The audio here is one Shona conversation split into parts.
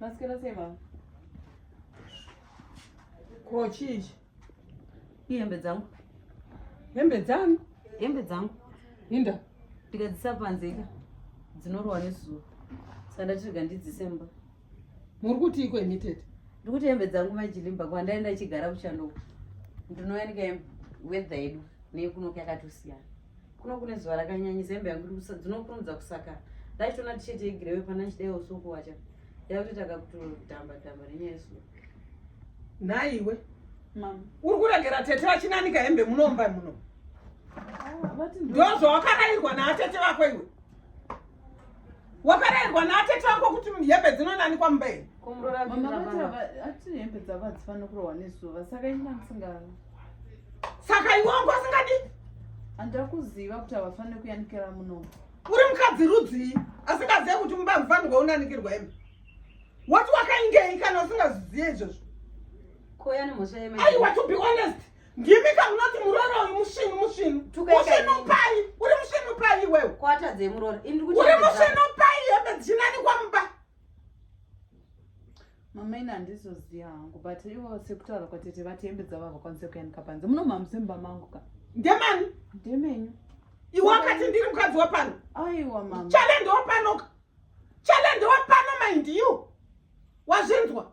Mascara sei mama? Ko chichi? Ihembe dzangu. Hembe dzangu? Hembe dzangu. Inda. Ndikadzisa panze ka. Dzinorowa nezuva. Saka ndatirega ndidzisemba. Muri kuti iko imi tete? Ndiri kuti hembe dzangu majilimba kwandaenda chigara kuchando. Ndinouya ndikahembe weather yedu neyekunoka yakatosiyana. kuno kune zuva rakanyanyisa hembe yangu dzinokurumidza kusaka ndaitoona tisheti yegirewe pana ndichidai usuku wacha yakutoita kakutodhamba dhamba nenyaya yesuku nhaiwe uri kuregera tete vachinanika hembe munomba muno ah, ndozvawakarairwa naatete vako iwe wakarayirwa naatete vako kuti hembe dzinonanikwa mumba iri saka iwe wangu asingadi handira kuziva kuti havafanire kuyanikira muno uri mukadzi rudzii asingazive kuti mumba mufanirwa unanikirwa imi wati wakaingei kana usingazvizive izvozvo aiwa to be honest ndimi kamunoti muroro uyu musvinu musvinu musvinu pai uri musvinu pai iwewe uri musvinu pai hembe dzichinani kwamumba mama ini handizoziva hangu but ivo sekutaura kwatete vati hembe dzavo havakwanise kuyanika panze munomhamuse mumba mangu ka ndemani ndemenyu iwe wakati ndiri mukadzi wapano aiwa mama chale ndewapanoka chale ndewapano mind you wazvinzwa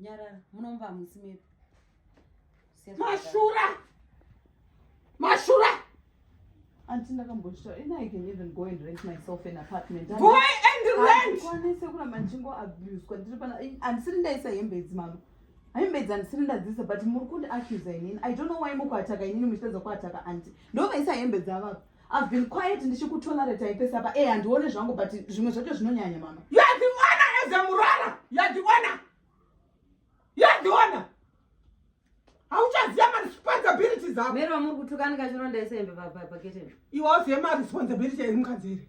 Nyarara, munomba hamusi medu. Mashura! Mashura! Anti ndakambozvitaura, and I can even go and rent myself an apartment. Go and rent! Kwanise kuramba ndichingo abuswa ndiri pana andisiri ndaisa hembe idzi mama. Hembe idzi andisiri ndadziisa but muri kundi accuse inini. I don't know why mukuataka inini muchitadza kuataka anti. Ndovaisa hembe dzavapa. I've been quiet ndichikutolerate ipesa apa eh handione zvangu but zvimwe zvacho zvinonyanya mama. You are the owner as a murara. You are the owner. You are the owner. Hauchaziva ma responsibilities ako. Mero muri kutukana kachironda isembe pa pa pa kitchen. Iwe uzive ma responsibilities eri mukadzi iri.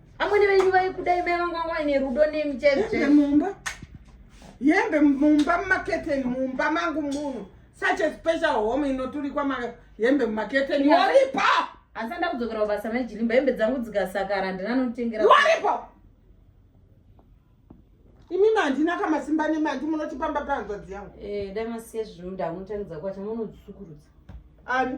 Amwene venyu vaikudai mai vangu vanga vaine rudo nemi chete. Mumba. Yembe mumba mumaketeni mumba mangu muno. Such a special home inoturikwa ma yembe mumaketeni. Waripa. Asi anda kudzokera kubasa mai Jilimba yembe dzangu dzikasakara handina anotengera. Waripa. Imi mandina kama simba nemi andi munotipamba panzvadzi yangu. Eh, dai masiye zvinhu ndamutanidza kwacha munodzisukurudza. Ani?